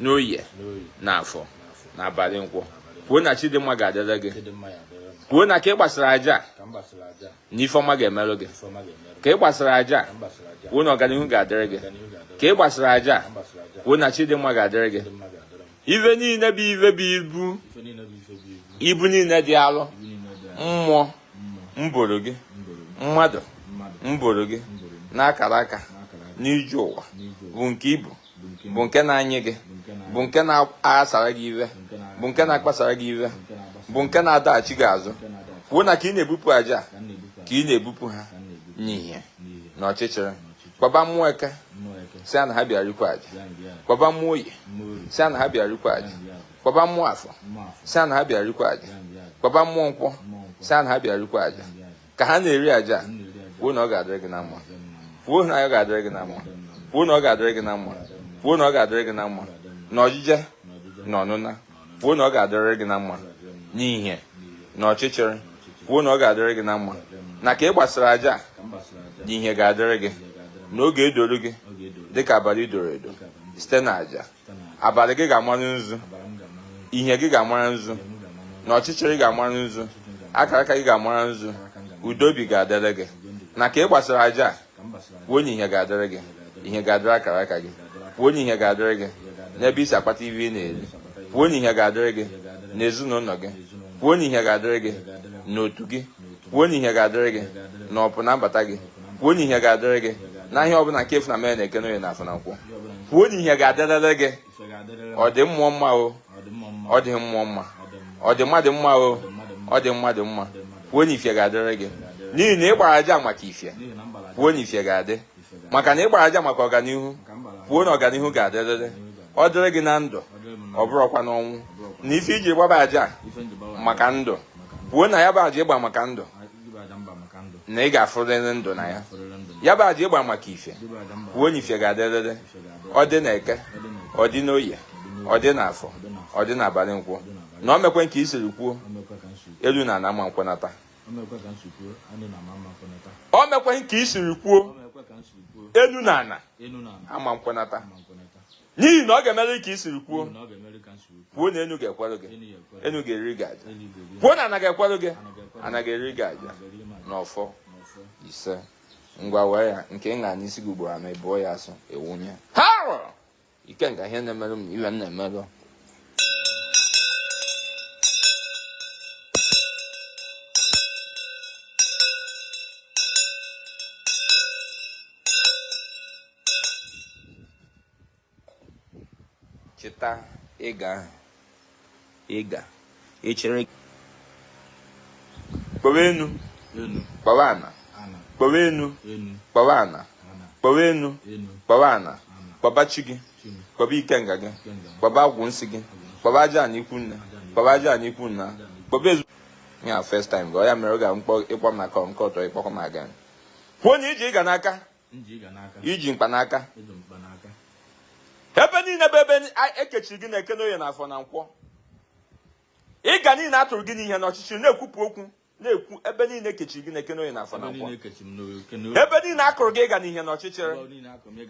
n'oye n'afọ n'abalị nkwọ kwuo na chi dị mma ga-adịrị gị kwuo na ka ị gbasịrị aja na ife ọma ga-emerụ gị ka ị gbasịrị aja kwuo na ọganihu ga-adịrị gị ka ị gbasịrị aja kwuo na chi dị mma ga-adịrị gị ife niile bụ ife bụ ibu ibu niile dị arụ mmụọ mboro gị mmadụ mboro gị n'akara aka n'ije ụwa bụ nke ibu bụ nke na-anyị gị bụ nke na-aghasara gị ive bụ nke na-akpasara gị ive bụ nke na-adaghachi gị azụ kwuo na ka ị na-ebupụ aja ka ị na-ebupụ ha n'ihe na ọchịchịrị kpọba mmụọ eke sị a na ha bịa rikwa aja kpọba mmụọ oye sị a na ha bịa rikwa aja kpọba mmụọ afọ sị a na ha bịa rikwa aja kpọba mmụọ nkwọ sị a na ha bịa rikwa aja ka ha na-eri aja kwuo na ọ ga-adịrị gị na mma kwuo na ọ ga-adịrị gị na mma kwuo na ọ ga-adịrị gị na mma kwuo na ọ ga-adịrị gị na mma na ojije na ọnụna kwuo na ọ ga-adịrị gị na mma n'ihe na ọchịchịrị kwuo na ọ ga-adịrị gị na mma na ka ị gbasịrị aja na ihe ga-adịrị gị na ọ ga-edoro gị dịka abalị doro edo site na aja abalị gị ga-amara nzu ihe gị ga-amara nzu na ọchịchịrị ga-amara nzu akara aka gị ga-amara nzu udo obi ga-adịrị gị na ka ị gbasịrị aja kwuo na ihe ga-adịrị gị ihe ga-adịrị akara aka gị kwuo na ihe ga-adịrị gị n'ebe i si akpata ive ị na-eri kwuo na ihe ga-adịrị gị n'ezinụlọ gị kwuo na ihe ga-adịrị gị n'otu gị kwuo na ihe ga-adịrị gị na ọpụ na mbata gị kwuo na ihe ga-adịrị gị na ihe ọbụla nke efu na mere na eke n'oye na afọ na nkwọ kwuo na ihe ga-adịrịrị gị ọ dị mmụọ mma o ọ dị mmụọ mma ọ dị mmadụ mma o ọ dị mmadụ mma kwuo na ife ga-adịrị gị n'ihi na ị gbara aja maka ife kwuo na ife ga-adị maka na ị gbara aja maka ọganihu kwuo na ọganihu ga-adịrịrị ọ dịrị gị na ndụ ọ bụrụkwa n'ọnwụ na ife i ji gbaba aja maka ndụ kwuo na ya bụ aja ị gba maka ndụ na ị ga-afụrịrị ndụ na ya ya bụ aja ị gba maka ife kwuo na ife ga-adịrịrị ọ dị na eke ọ dị n'oye ọ dị n'afọ ọ dị n'abalị nkwọ na o mekwe nke i siri kwuo elu na ana ama nkwenata o mekweghị ka i siri kwuo enu na ana ama nkwenata n'ihi na ọ ga-emere ka i siri kwuo kwuo na enu ga-ekwere gị enu ga-eri gị aja kwuo na ana ga-ekwere gị ana ga-eri gị aja n'ọfọ isee ngwa wee ya nke ṅa n'isi gị ugboro anọ ị bụọ ya asụ i wunye ha rụrụ ikenga ihe na-emerụ m na iwe m na-emerụ chịta ịga ị ga echere kpọwa enu kpọwa ana kpọwa enu kpọwa ana kpọwa enu kpọwa ana kpọba chi gị kpọba ikenga gị kpọba agwụ nsị gị kpọba aja ana ikwu nne kpọba aja ana ikwu nna kpọba ezu ya first time gị ọ ya mere ọ ga-akpọ ịkpọ maka nke ọtọ ịkpọkọ m aga kwuo na i ji ịga n'aka i ji mkpa n'aka ebe niile bụ ebe e kechiri gị n'eke n'oye na afọ na nkwọ ịga niile a tụrụ gị n'ihe n'ọchịchịrị na-ekwupụ okwu na-ekwu ebe niile e kechiri gị n'eke n'oye na afọ na nkwọ ebe niile akụrụ gị ịga n'ihe n'ọchịchịrị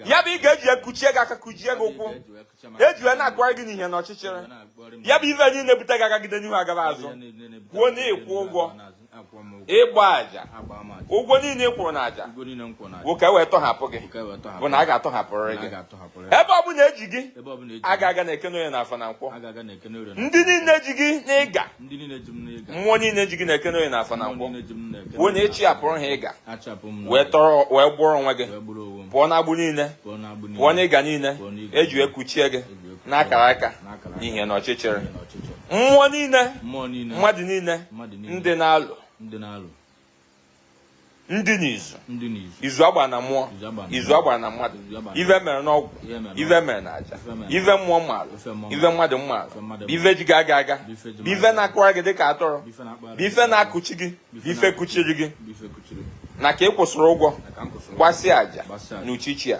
ya bụ ịga e ji kuchie gị aka kuchie gị ụkwụ eji wee na-akụgharị gị n'ihe n'ọchịchịrị ya bụ ife niile bute gị agagide n'ihu agaba azụ kwuo na ịkwụ ụgwọ ịgba aja ụgwọ niile ị kwụrụ na aja bụ ka e wee tọhapụ gị bụ na a ga-atọhapụrịrị gị ebe ọ bụla eji gị aga aga n'eke n'oye na afọ na nkwọ ndị niile ji gị n'ịga mmụọ niile ji gị n'eke n'oye na afọ na nkwọ kwuo na ị chịpụrụ ha ịga wee gbụrụ onwe gị pụọ n'agbụ niile pụọ n'ịga niile eji wee kuchie gị n'akara aka n'ihe na ọchịchịrị mmụọ niile mmadụ niile ndị na-alụ ndị n'izu izu agba na mmụọ izu agba na mmadụ ive mere n'ọgwụ ive mere na aja ive mmụọ maalụ ive mmadụ maalụ ive ji gị aga aga ive na-akụra gị dịka atụrụ ife na-akụchi gị ife kụchiri gị na ka ị kwụsịrị ụgwọ gbasịa aja n'uchichi a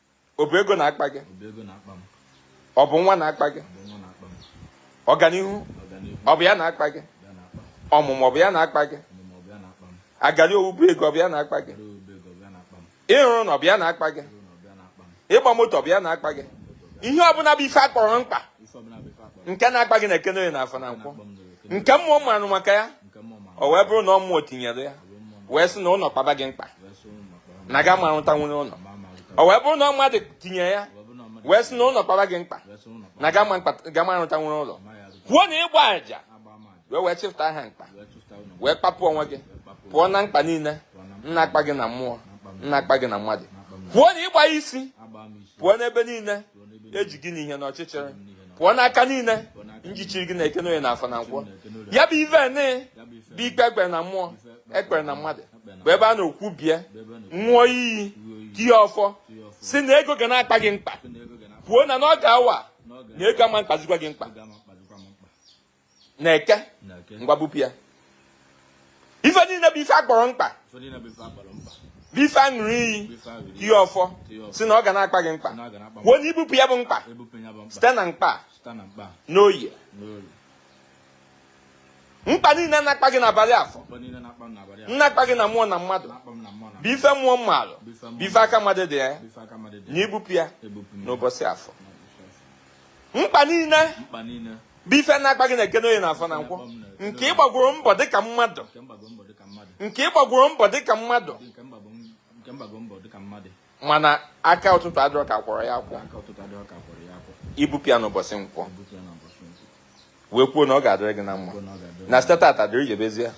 ọ bụ ego na-akpa gị ọ bụ nwa na-akpa gị ọganihu ọ bụ ya na-akpa gị ọmụmụ ọ bụ ya na-akpa gị agali owu bụ ego ọ bụ ya na-akpa gị ịrụ ụnọ ọ bụ ya na-akpa gị ịgba moto ọ bụ ya na-akpa gị ihe ọbụla bụ ife akpọrọ mkpa nke na-akpa gị n'eke n'oye na afọ na nkwọ nke mmụọ maarụ maka ya o wee bụrụ na ọ mmụọ tinyere ya wee sị na ụlọ kpaba gị mkpa na ga ma rụta nwere ụlọ o wee bụrụ na ọ mmadụ tinye ya wee sị na ụlọ kpaba gị mkpa na ga ma rụta nwere ụlọ kwuo na ịgba aja wee chịpụta ha mkpa wee kpapụ onwe gị pụọ na mkpa niile na-akpa gị na mmụọ na-akpa gị na mmadụ pụọ na ịgba isi pụọ n'ebe niile eji gị n'ihe n'ọchịchịrị pụọ n'aka niile njichiri gị na eke n'oyi na afọ na nkwọ ya bụ ive ni bụ ikpe ekpere na mmụọ ekpere na mmadụ bụ ebe a nọ kwubie ṅụọ iyi tie ọfọ si na ego ga na-akpa gị mkpa kwuo na n'oge awa na ego ama akpazikwa gị mkpa na eke ngwa bupụ ya ife niile bụ ife akpọrọ mkpa bụ ife aṅụrụ iyi tie ọfọ si na ọ ga na-akpa gị mkpa kwuo na ibupụ ya bụ mkpa site na mkpa n'oyi mkpa niile na-akpa gị n'abalị afọ na-akpa gị na mmụọ na mmadụ bụ ife mmụọ mmarụ bụ ife aka mmadụ dị ya na ibupụ ya n'ụbọchị afọ mkpa niile bụ ife na-akpa gị na eke n'oyi n'afọ na nkwọ nke ịgbagworo mbọ dịka mmadụ nke ịgbagworo mbọ dịka mmadụ mana aka ụtụtụ adịrọ ka akwọrọ ya akwọ ibupụ ya n'ụbọchị nkwọ wee kwuo na ọ ga-adịrị gị na mma na site tata dịrị jebezie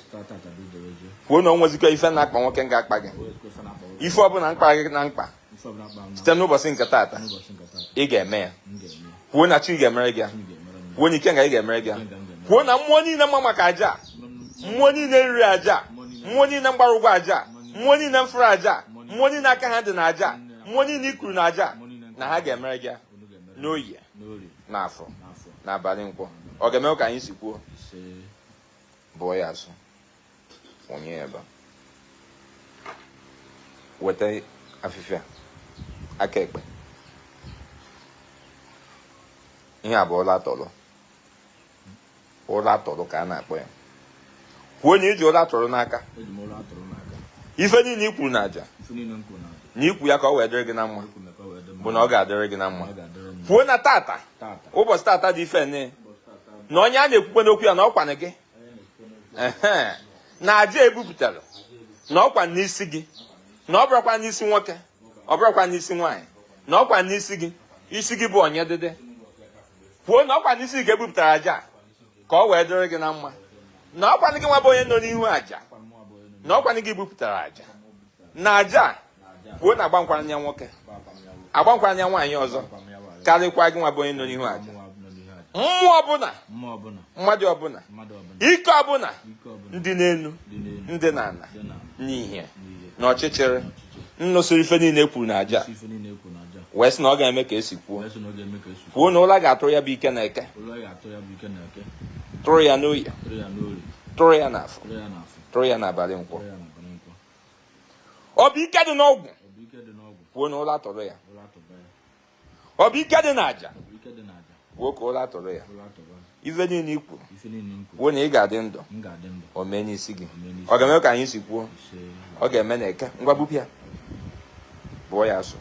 kwuo na o nwezikọ ife na-akpa nwoke nga-akpa gị ife ọbụla mkpa gị na mkpa site n'ụbọchị nke tata ị ga-eme ya kwuo na chi ga-emere gị ya kwuo na ikenga gị ga-emere gị ya kwuo na mmụọ niile mma maka aja mmụọ niile riri aja mmụọ niile mgbara ụgwọ aja mmụọ niile mfụrụ aja mmụọ niile aka ha dị na aja mmụọ niile ikuru na aja na ha ga-emere gị ya n'oyi n'afọ n'abalị nkwọ ọ ga-eme ka anyị si kwuo bụọ ya asụ onye ebe weta afịfịa aka ekpe ihe a bụ ụla tọlọ ụla tụrụ ka a na-akpọ ya kwuo na iji ụla tụrụ n'aka ife niile ikwuru na aja na ikwu ya ka ọ wee dịrị gị na mma bụ na ọ ga-adịrị gị na mma kwuo na tata ụbọchị tata dị ife ne na onye a na-ekwukwe n'okwu ya na ọkwanụ gị na aja ebupụtara na ọkwa n'isi gị na ọ bụrụkwa n'isi nwoke ọ bụrụkwa n'isi nwaanyị na ọkwa n'isi gị isi gị bụ onye dịdị kwuo na ọkwa n'isi gị ka ebupụtara aja ka ọ wee dịrị gị na mma na ọkwanụ gị nwa bụ onye nọ n'ihu aja na ọkwa gị bupụtara aja na aja kwuo na agbankwara ya nwoke agbankwara ya nwaanyị ọzọ karịkwa gị nwa bụ onye nọ n'ihu aja mmụọ ọbụla mmadụ ọbụla ike ọbụla ndị n'elu ndị n'ala n'ihe na ọchịchịrị nnụsịrị ife niile ekwuru na aja wee sị na ọ ga-eme ka esi kwuo kwuo na ụla ga-atụrụ ya bụ ike na eke tụrụ ya n'oyi tụrụ ya n'afọ tụrụ ya n'abalị nkwọ ọ bụ ike dị n'ọgwụ kwuo na ụla tụrụ ya ọ bụ ike dị n'aja bụ ka ụla tụrụ ya ife niile i kwu bụ na ị ga-adị ndụ o mee n'isi gị ọ ga-eme ka anyị si kwuo ọ ga-eme na eke ngwa bupịa bụọ ya asụ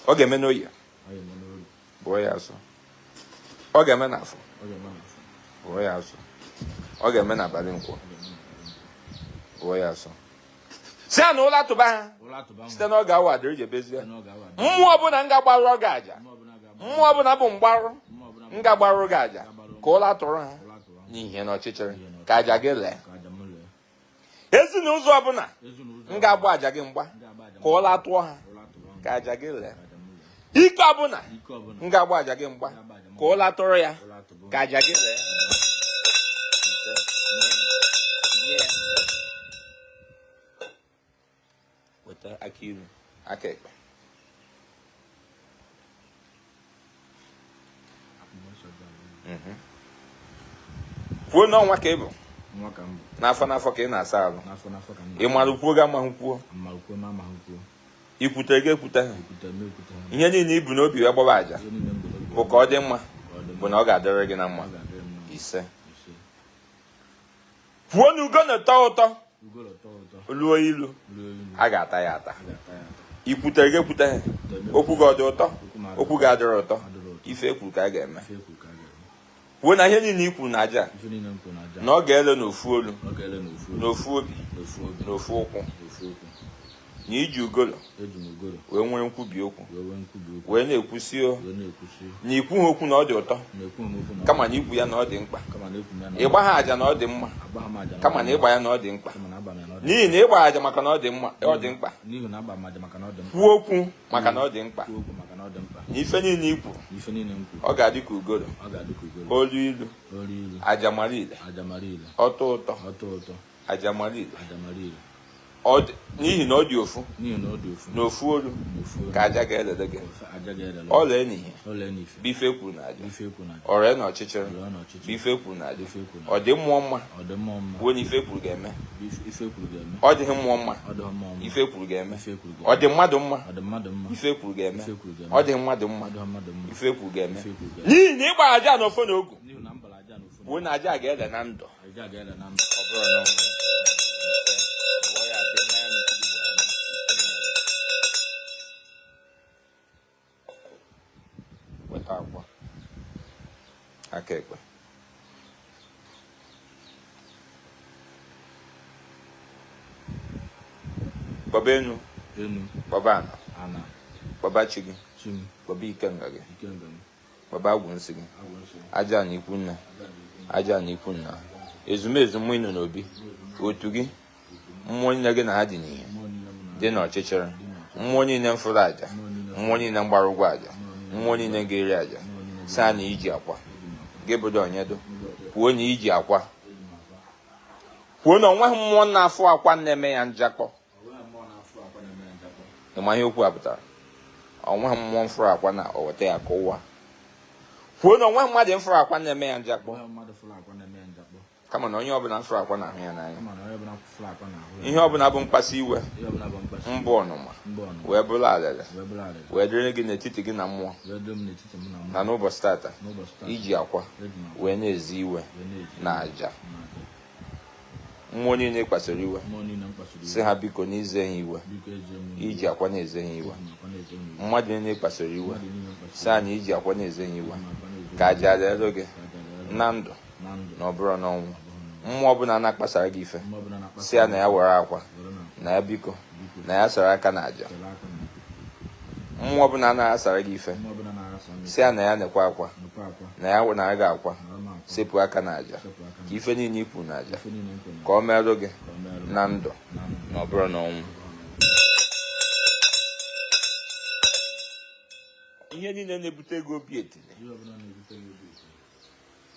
ọ ga-eme n'oye bụọ ya asụ ọ ga-eme n'afọ bụọ ya asụ ọ ga-eme n'abalị nkwọ bụọ ya asụ sị ya na ụla tụba ha site n'oge a wa dịrị jebezie mmụọ ọbụla ga-agbarụ gị aja mmụọ ọbụla bụ mgbarụ ga-agbarụ gị aja ka ụla tụrụ ha n'ihe na ọchịchịrị ka aja gị lee ezi n'ụzọ ọbụla ga-agba aja gị mgba ka ụla tụọ ha ka aja gị lee ike ọbụla ga-agba aja gị mgba ka ụla tụrụ ya ka aja gị lee weta aka nri aka ekpe mhm. kwuo n'ọnwa ka ị bụ n'afọ n'afọ ka ị na-asa ahụ ị mara kwuo gị amaghị kwuo i kwute gị ekwute ihe niile i bu n'obi wee gbaba aja bụ ka ọ dị mma bụ na ọ ga-adịrị gị na mma ise bụ na ugolo tọọ ụtọ luo ilu a ga-ata ya ata i kwute gị ekwute okwu gị dị ụtọ okwu gị adịrọ ụtọ ife e kwuru ka a ga-eme bụ na ihe niile i kwuru na aja na ọ ga-ele n'ofu olu n'ofu obi n'ofu ụkwụ na i ji ugolo wee nwere nkwubi okwu wee na-ekwu sị o na i kwuha okwu na ọ dị ụtọ kama na i kwu ya na ọ dị mkpa ị gbaha aja na ọ dị mma kama na ị gba ya na ọ dị mkpa n'ihi na ị gba aja maka na ọ dị mma ọ dị mkpa kwuo okwu maka na ọ dị mkpa na ife niile i kwuru ọ ga-adị ka ugoro o lu ilu aja mara ile ọ tọ ụtọ aja mara ile n'ihi na ọ dị ofu na ofu olu ka aja ga-elele gị o lee n'ihe bụ ife e kwuru na aja o ree na ọchịchịrị ife e kwuru na aja ọ dị mmụọ mma bụ na ife e kwuru ga-eme ọ dịghị mmụọ mma ife e kwuru ga-eme ọ dị mmadụ mma ife e kwuru ga-eme ọ dịghị mmadụ mma ife e kwuru ga-eme n'ihi na ị gbara aja na ọfọ na ogu bụ na aja ga-ele na ndụ weta akwa aka ekpe kpọba enu enu kpọba ana ana kpọba chi gị chi m kpọba ikenga gị ikenga m kpọba agwụ nsị gị agwụ nsị m aja na ikwu nna aja na ikwu nna ezumezu mmụọ ịnọ n'obi otu gị mmụọ niile gị na ha dị n'ihe dị n'ọchịchịrị mmụọ niile mfụrụ aja mmụọ niile mgbara ụgwọ aja mmụọ niile ga-eri aja sị ha na iji akwa gị bụdo onyedo kwuo na iji akwa kwuo na onweghị mmụọ na-afụ akwa na-eme ya njakpọ ịma ihe okwu a pụtara onweghị mmụọ mfụrụ akwa na o weta ya kụwaa kwuo na onweghị mmadụ mfụrụ akwa na-eme ya njakpọ kama na onye ọbụla mfụrụ akwa na-ahụ ya n'anya ihe ọbụla bụ mkpasi iwe mbụ ọnụma wee bụrụ alele wee dịrị gị n'etiti gị na mmụọ na n'ụbọchị tata iji akwa wee na-eze iwe na aja mmụọ niile ị kpasiri iwe sị ha biko na i ze ha iwe iji akwa na-eze ha iwe mmadụ niile ị kpasiri iwe sị ha na iji akwa na-eze ha iwe ka aja leelụ gị na ndụ na ọ bụrọ n'ọnwụ mmụọ ọbụla na-akpasara gị ife sị ya na ya were akwa na ya biko na ya sara aka na aja mmụọ ọbụla na-aghasara gị ife sị ya na ya nekwa akwa na ya nara gị akwa sepụ aka na aja ka ife niile ikwu na aja ka o meerụ gị na ndụ na ọ bụrọ n'ọnwụ ihe niile na-ebute gị obi etili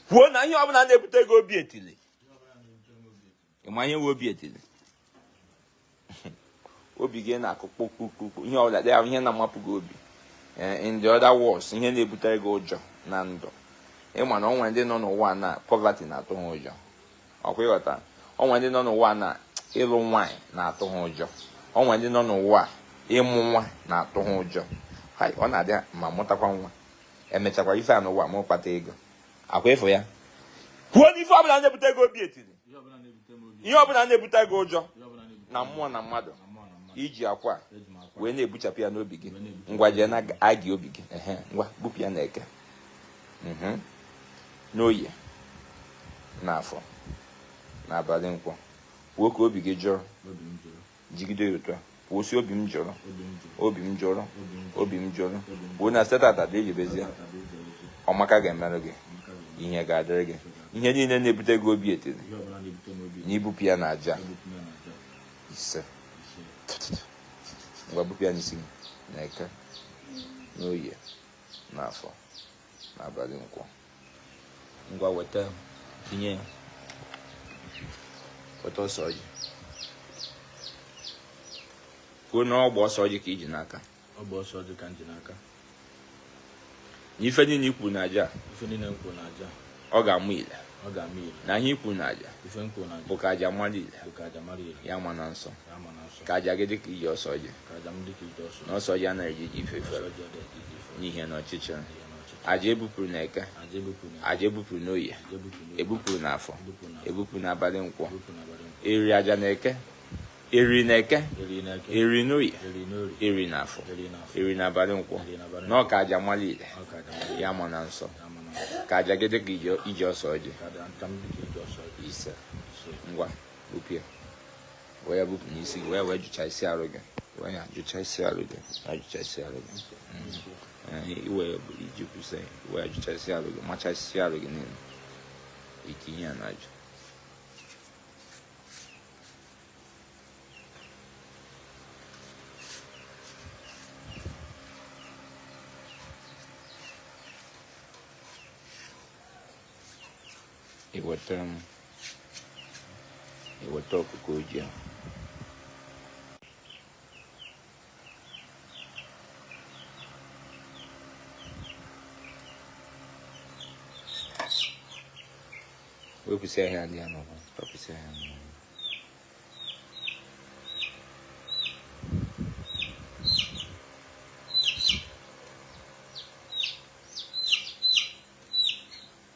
kwuo na ihe ọbụla na-ebute gị obi etili ịma ihe nwe obi etili obi gị na-akụ kpokpokpokpo ihe ọbụla dị ahụ ihe na-amapụ gị obi eh, in the other words ihe na-ebutere gị ụjọ na ndụ ịma na o nwe ndị nọ n'ụwa na poverty na-atụ ha ụjọ ọkwa ịghọta o nwe ndị nọ n'ụwa na ịlụ nwaanyị na-atụ ha ụjọ o nwe ndị nọ n'ụwa ịmụ nwa na-atụ ha ụjọ ọ na-adị ma mụtakwa nwa emechakwa ife a n'ụwa ma kpata ego ọkwa ịfụ ya kwuo na ife ọbụla na-ebute gị obi etiri ihe ọbụla na-ebute gị ụjọ na mmụọ na mmadụ iji akwa wee na-ebuchapụ ya n'obi gị ngwa jee na agị obi gị ngwa bupụ ya n'eke mhm. n'oye n'afọ n'abalị nkwọ kwuo ka obi gị jụọ jigide ya otu a kwuo sị obi m jụrụ obi m jụrụ obi m jụrụ kwuo na site tata dị ejibezie ọma ka ga-emerụ gị ihe ga-adịrị gị ihe niile na-ebute gị obi etiri na ibupụ ya na aja ise ngwa bupụ ya n'isi gị na eke n'oye n'afọ n'abalị nkwọ ngwa weta tinye ya weta ose ọjị kwuo na ọgba ose ọjị ka i ji n'aka ọgba ose ọjị ka m ji n'aka na ife niile ikwu na aja ife niile ikwu na aja ọ ga-ama ile ọ ga-ama ile na ihe ikwu na aja ife ikwu na aja bụ ka aja mara ile bụ ka aja mara ile ya ma na nsọ ya ma na nsọ ka aja gị dịka ije ose ọjị ka aja m dịka ije ose na ose ọjị anaghị eje ije ifere n'ihe na ọchịchịrị aja ebupụrụ na eke aja ebupụrụ n'oye ebupụrụ na afọ ebupụrụ na abalị nkwọ eriri aja na eke eriri na eke eriri n'oye eriri na afọ eriri na abalị nkwọ na ọ ka aja malị ile ya ma na nsọ ka aja gị dịka ije ose ọjị ise ngwa bupụ ya wee ya bupụ n'isi gị wee wee jụchasịa arụ gị wee ya jụchasịa arụ gị ya jụchasịa arụ gị mm. iwe bụrụ iji kwụsị i wee jụchasị arụ gị machasị arụ gị niile itinye ya n'ajụ iweta m iweta ọkụkọ ojii ahụ wepụsịa ihe a dị ya n'ụwa tọpụsịa ihe a n'ụwa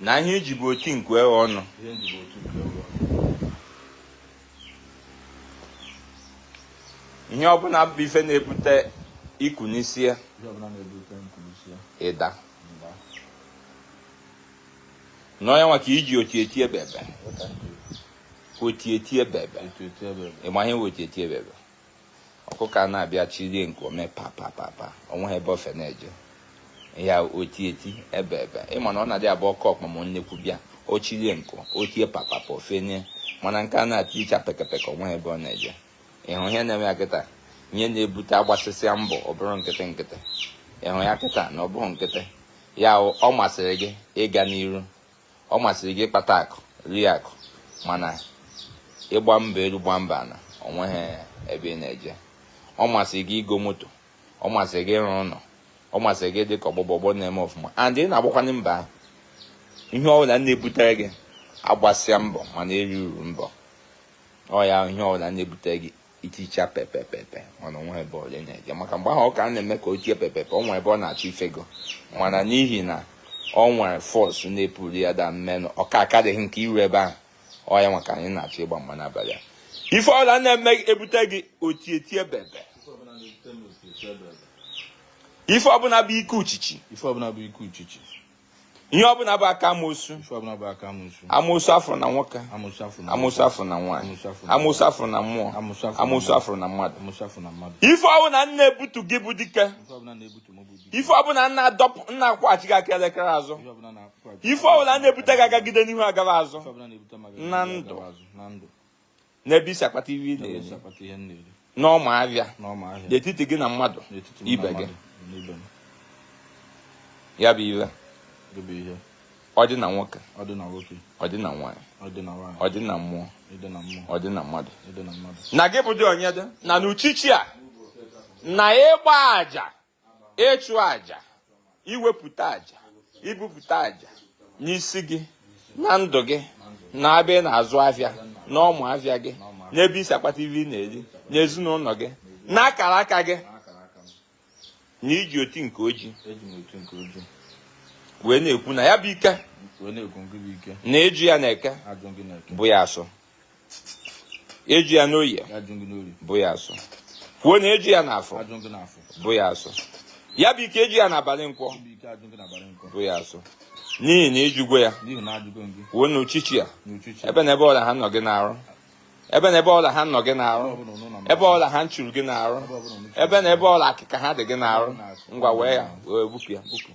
na ihe iji bụ oti nku eghe ọnụ ihe ọbụla bụ ife na-ebute iku n'isi ya ịda n'ọnya nwa ka iji oti eti ebe ebe oti eti ebe ebe ịma ihe oti eti ebe ebe ọkụkọ a na-abịa chirie nku o me papapapa onweghị ebe o fe na-eje ya oti eti ebe ebe ịma na ọ na-adị abụ oke ọkpa ma nnekwu bịa o chirie nku o tie papapa o fenye mana nke a na-eticha pekepeke onweghị ebe ọ na-eje ịhụ ihe na-eme ya kịta ihe na-ebute agbasịsịa mbọ ọ bụrụ nkịtị nkịtị ịhụ ya kịta na ọ bụghị nkịtị ya ọ masịrị gị ịga n'iru ọ masịrị gị ịkpata akụ rie akụ mana ịgba mbọ elu gba mbọ ana ọ nweghị ebe ị na-eje ọ masịrị gị igo moto ọ masịrị gị ịrụ ụlọ ọ masịrị gị dị ka ọgbọ gị bụ ọgbọ na-eme ọfụma and ị na-agbakwanị mbọ ahụ ihe ọbụla na-ebutere gị agbasịa mbọ mana eri uru mbọ ọ ya ihe ọbụla na-ebutere gị iticha pepepepe mana o nwe ebe ọ na-eje maka mgbe ahụ ọ ka na-eme ka o tie pepepe ọ nwere ebe ọ na-achọ ifego mana n'ihi na ọ nwere force na-epull ya down mmenụ ọka akadịghị nke iru ebe ahụ ọ ya maka anyị na-achọ ịgba mgba n'abalị a ife ọbụla na-eme ebute gị otietie bebe ife ọbụla bụ ike uchichi ife ọbụla bụ ike uchichi ihe ọ bụla bụ aka amoosu amoosu afụrụ na nwoke amoosu afụrụ na nwaanyị amoosu afụrụ na mmụọ amoosu afụrụ na mmadụ ife ọ bụla na-ebutu gị bụ dike ife ọ bụla na-adọpụ na-akwụghachi gị aka elekere azụ ife ọ bụla na-ebute gị agagide n'ihu agaba azụ na ndụ n'ebe i si akpata ihe ị na-eri n'ọma afịa n'etiti gị na mmadụ ibe gị ya bụ ihe ọ dị na nwoke ọ dị na nwaanyị ọ dị na mmụọ ọ dị na mmadụ na gị bụ dị onye dị na n'uchichi a na ịgba aja ịchụ aja iwepụta aja ibupụta aja n'isi gị na ndụ gị n'ebe ị na-azụ afịa na ọma afịa gị n'ebe i si akpata ife ị na-eri n'ezinụlọ gị na akara aka gị na iji oti nke oji wee na-ekwu na ya bụ ike na ịjụ ya n'eke bụ ya asọ ịjụ ya n'oye bụ ya asụ kwuo na ịjụ ya n'afọ bụ ya asụ ya bụ ike ịjụ ya n'abalị nkwọ bụ ya asụ n'ihi na ịjụgo ya kwuo n'uchichi a ebe na ebe ọbụla ha nọ gị n'arụ ebe na ebe ọbụla ha nọ gị n'arụ ebe ọbụla ha nchuru gị n'arụ ebe na ebe ọbụla akịka ha dị gị n'arụ ngwa wee ya wee bupụ ya bupụ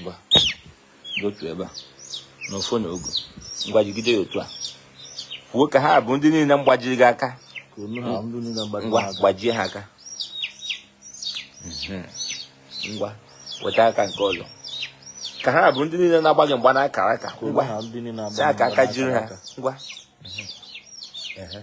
ngwa otu ebe a na ọfọ na ogu ngwa jigide ya otu a kwuo ka ha bụ ndị niile mgbajiri gị aka ngwa gbajie ha aka mhm. ngwa weta aka nke ọzọ ka ha bụ ndị niile na-agba gị mgba n'akara aka ngwa si aka aka jiri ha ngwa mhm.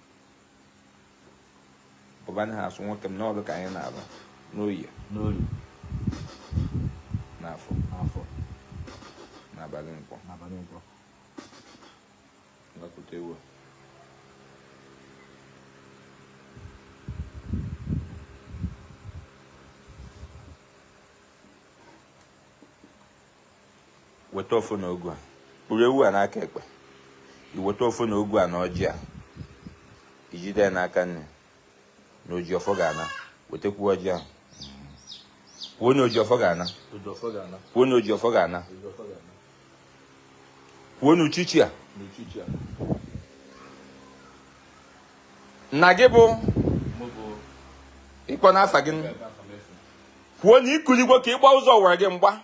ọba anyị ha asụ nwoke m n'ọrụ ka anyị na-arụ n'oyi n'oyi n'afọ n'afọ n'abalị nkwọ n'abalị nkwọ ngakụta ewu weta ọfọ na ogu a kpụrụ ewu a n'aka ekpe iweta ọfọ na ogu a na ọjị a ijide ya n'aka nni na oji ọfọ ga-ana wetakwu ọjị ahụ kwuo na oji ọfọ ga-ana kwuo na oji ọfọ ga-ana kwuo na uchichi a na gị bụ ịkpọ n'afa gị kwuo na ikuligwo ka ịgba ụzọ were gị mgba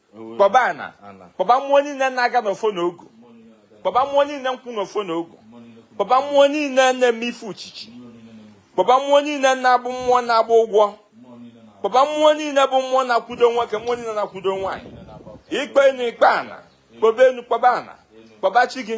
kpọba ana kpọba mmụọ niile na-aga n'ọfọ na ogu kpọba mmụọ niile nkwụ n'ọfọ na ogu kpọba mmụọ niile na-eme ife uchichi kpọba mmụọ niile na-abụ mmụọ na-agba ụgwọ kpọba mmụọ niile bụ mmụọ na-akwudo nwoke mmụọ niile na-akwudo nwaanyị ikpe enu ikpe ana kpọba enu kpọba ana kpọba chi gị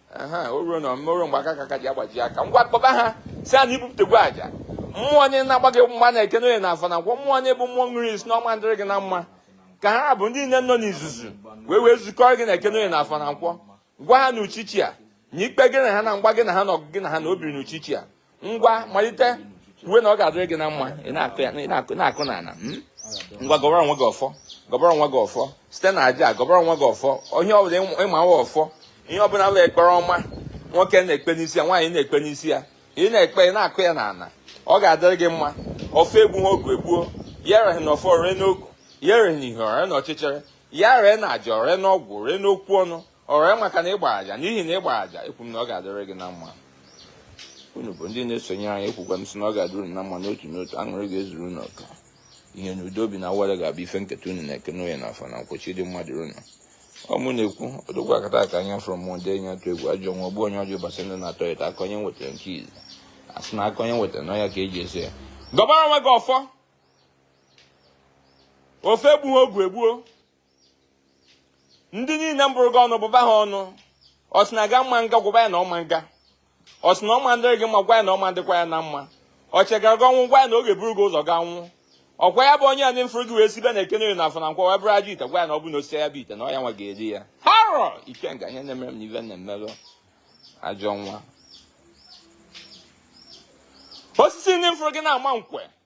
o ruo na omume o ruo mgbe aka ka aka ji agbaji aka ngwa kpọba ha sị ha na ibupụtegwo aja mmụọ niile na-agba gị mgba na eke na oye na afọ na nkwọ mmụọ niile bụ mmụọ ṅụrụ iyi sị na ọ ma ndịrị gị na mma ka ha bụ ndị niile nọ n'izuzu wee zukọrọ gị na eke na oye na afọ na nkwọ gwa ha na uchichi a na ikpe gị na ha na mgba gị na ha na ọgụ gị na ha na o biri na uchichi a ngwa malite kwuwe na ọ ga-adịrị gị na mma ị na-akụ ya ị na-akụ na-akụ na ala mm? ngwa gọbara onwe gị ọfọ gọbara onwe gị ọfọ site na aja gọbara onwe gị ọfọ onye ọbụla ịma nwa ọfọ ihe ọbụla bụ ekpere ọma nwoke na-ekpe n'isi ya nwaanyị na-ekpe n'isi ya ị na-ekpe ị na-akụ ya n'ala ọ ga-adịrị gị mma ọfọ egbu ha ogu egbuo ya ereghị na ọfọ ree n'ogu ya ereghị na ihe o ree na ọchịchịrị ya ree na aja o ree n'ọgwụ ree n'okwu ọnụ o ree maka na ịgba aja n'ihi na ịgba aja ekwu m na ọ ga-adịrị gị na mma unu bụ ndị na-esonye anyị ekwukwa m sị na ọ ga-adịrị unu na mma n'otu n'otu aṅụrị ga-ezuru unu ọganihu na udo obi na awele ga-abụ ife nketa unu na eke na oye na afọ na nkwọ chi dị mmadụ unu ọ mụ na-ekwu odogwu akataka anya fụrụ mmụọ ndị enyi atụ egwu ajọ nwa ogbu onye ọjọọ ụbọchị ndụ na-atọ ya aka onye nwetara nke izi asị na aka onye nwetara na ọ ya ka eji eso ya gọbara onwe gị ọfọ ọfọ egbughị ogu egbuo ndị niile mbụrụ gị ọnụ bụba ha ọnụ ọ sị na gị ma nga gwaba ya na ọ ma nga ọ sị na ọ ma dịrị gị mma gwa ya na ọ ma dịkwa ya na mma ọ chegara gị ọnwụ gwa ya na ọ ga-eburu gị ụzọ ga nwụ ọkwa ya bụ onye a n'ifuru gị wee sibe na eke na oye na afọ na nkwọ wee bụrụ ajọ ite gwa ya na ọ bụ na o sisịa ya bụ ite na ọ ya nwa ga-eri ya harọ ikenga ihe na-emere m na ibe na-emerụ ajọ nwa osisi ndị mfụrụ gị na-ama nkwe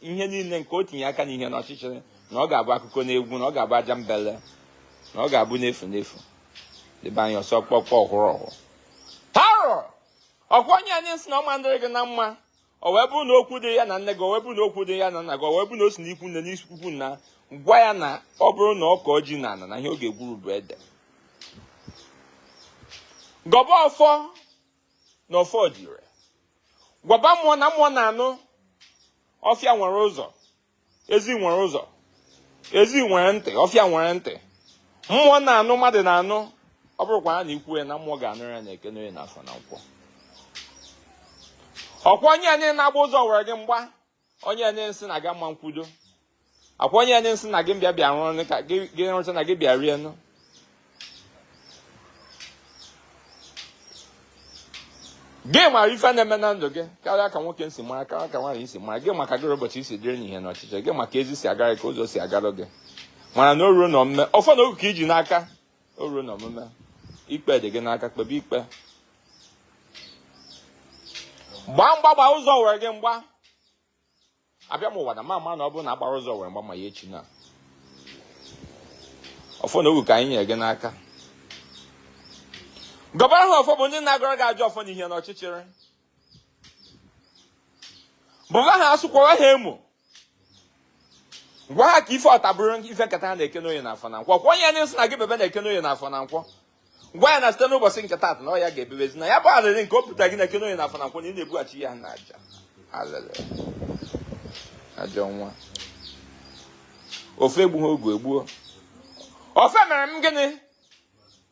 ihe niile nke o tinye aka n'ihe na ọchịchịrị na ọ ga-abụ akụkọ na egwu na ọ ga-abụ aja mbele na ọ ga-abụ n'efu n'efu debe anyị ọsọ kpọkpọ ọhụrụ ọhụrụ haro ọkwa onye anyị sị na ọ ma ndịrị gị na mma o wee bụrụ na okwu dị ya na nne gị o wee bụrụ na okwu dị ya na nna gị o wee bụrụ na o si n'ikwu nne si n'ikwu nna gwa ya na ọ bụrụ na ọ kọọ ji na ana na ihe ọ ga-egwuru bụ ede gọba ọfọ na ọfọ dị ire gwaba mmụọ na mmụọ na-anụ ọfịa nwere ụzọ ezi nwere ụzọ ezi nwere ntị ọfịa nwere ntị mmụọ na-anụ mmadụ na-anụ ọ bụrụkwa na i kwuo ya na mmụọ ga-anụ ya na eke na oye na afọ na nkwọ ọkwa onye anyị na-agba ụzọ were gị mgba onye enye nsị na aga mma nkwudo ọkwa onye enye nsị na gị bịa rụrụ ka gị rụcha na gị bịa rie ṅụọ gị mara ife na-eme na ndụ gị karịa ka nwoke si mara karịa ka nwaanyị si mara gị ma ka gịrị ụbọchị si dịrị n'ihe na ọchịchị gị ma ka ezi si agara ka ụzọ si agara gị mara na o ruo na omume ọfọ na ogu ka i ji n'aka o ruo na omume ikpe dị gị n'aka kpebe ikpe gbaa mgba gbaa ụzọ were gị mgba abịa m ụwa na mama na ọ bụrụ na agbara ụzọ were mgba ma ya echi na ọfọ na ogu ka anyị nyere gị n'aka gọbara ha ọfọ bụ ndị na-agọrọ gị ajọ ọfọ n'ihe na ọchịchịrị bụga ha asụkwara ha emo gwa ha ka ife ọta bụrụ ife nketa ha na eke na oye na afọ na nkwọ kwa onye nsị na gị bebe na eke na oye na afọ na nkwọ gwa ya na site n'ụbọchị nke taata na ọ ya ga-ebebezi na ya bụ alịrị nke o buta gị na eke na oye na afọ na nkwọ na ị na-ebughachi ya na aja alịrị ajọ nwa ọfọ egbu ha ogu egbuo ọfọ emere m gịnị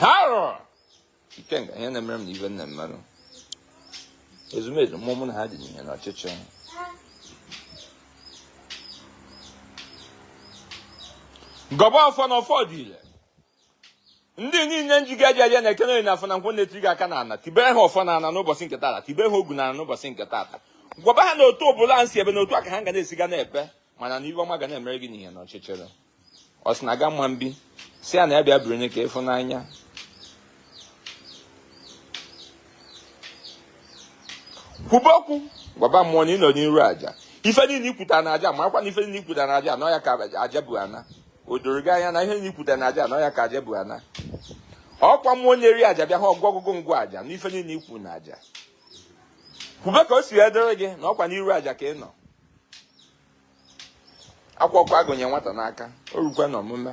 Haro! Ikenga, ihe na-emere m na ibe nna mmadụ. Ezumezu mmụọ mụ na ha dị n'ihe na ọchịchị. Gọba ọfọ na ọfọ dị ile. Ndị niile njiga eji aja na eke na oye na afọ na nkwọ na-etiri gị aka n'ana. Tibere ha ọfọ n'ana n'ụbọchị nke taata. Tibere ha ogu n'ana n'ụbọchị nke taata. Gwaba ha na otu ọbụla nsi ebe na otu a ka ha ga na-esiga na-ebe. Mana na ife ọma ga na-emere gị n'ihe na ọchịchịrị. ọ sị na aga mma mbi si ya na ya bịa biri onye ka ị fụ n'anya kwube okwu gwaba mmụọ na ị nọ n'iru aja ife niile i kwuta na aja makwa na ife niile i kwuta na aja anụ ya ka aja bụ ana o doro gị anya na ihe niile i kwuta na aja anụ ya ka aja bụ ana ọkwa mmụọ na-eri aja bịa ha ogwugwu ngwa aja na ife niile i kwu na aja kwube ka o si edere gị na ọkwa n'iru aja ka ị nọ ọkwa ọkụ a gụnye nwata n'aka o rukwa n'omume